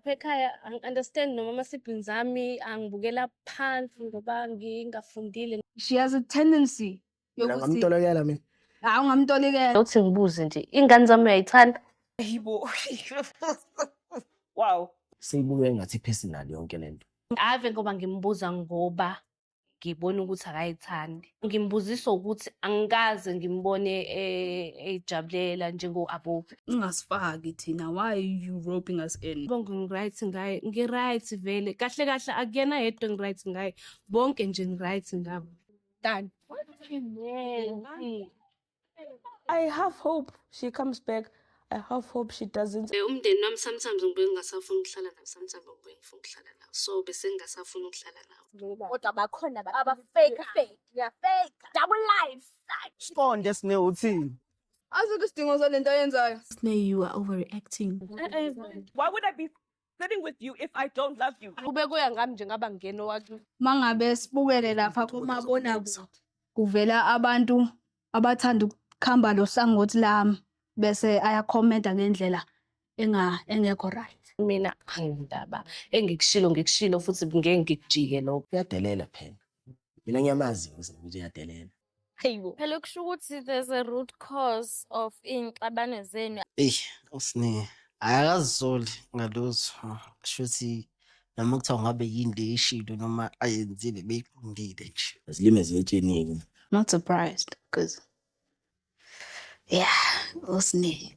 Lapha ekhaya angi-understand noma ama-siblings ami angibukela phansi ngoba ngingafundile. She has a tendency Mina yokuthi ngamtolokela mina. hawu ngamtolikela. Uthi ngibuze nje, ingane zami uyayithanda? Ayibo. wow. Seyibuke ngathi personal yonke lento. Ave ngoba ngimbuza ngoba ngibona ukuthi akayithandi ngimbuzisa ukuthi angikaze ngimbone eh, eyijabulela njengo-abobi ungasifaki thina why you roping us in bonke ngiright ngaye ngiright vele kahle kahle akuyena yedwa ngiright ngaye bonke nje ngiright ngabo tani I have hope she comes back. I have hope she doesn't. Eh, umndeni wami sometimes ngibuye ngingasafuni ukuhlala nawo sometimes ngibuye ngifuna ukuhlala nawo so bese ngingasafuni ukuhlala nawo kodwa bakhona abafake fake yeah fake double life siqonde sine uthini azikho isidingo salento ayenzayo sine you are overreacting why would i be Living with you if I don't love you. Kube kuya ngami nje ngaba ngeno wakho. Mangabe sibukele lapha kumabona kuvela abantu abathanda ukukhamba lo hlangothi lami bese ayakhomenta ngendlela enga engekho right. Mina angindaba engikushilo ngikushilo futhi ngeke ngikujike lokho. Uyadelela phela. Mina ngiyamazi ukuthi uyadelela. Hayibo. Phela kusho ukuthi there's a root cause of inxabano zenu. Ey, usine akazisoli ngalutho. Shuthi noma kuthiwa ngabe yini le ishilo noma ayenzile beyiqondile nje. Zilime ziyetshenile. Not surprised because yeah, usine.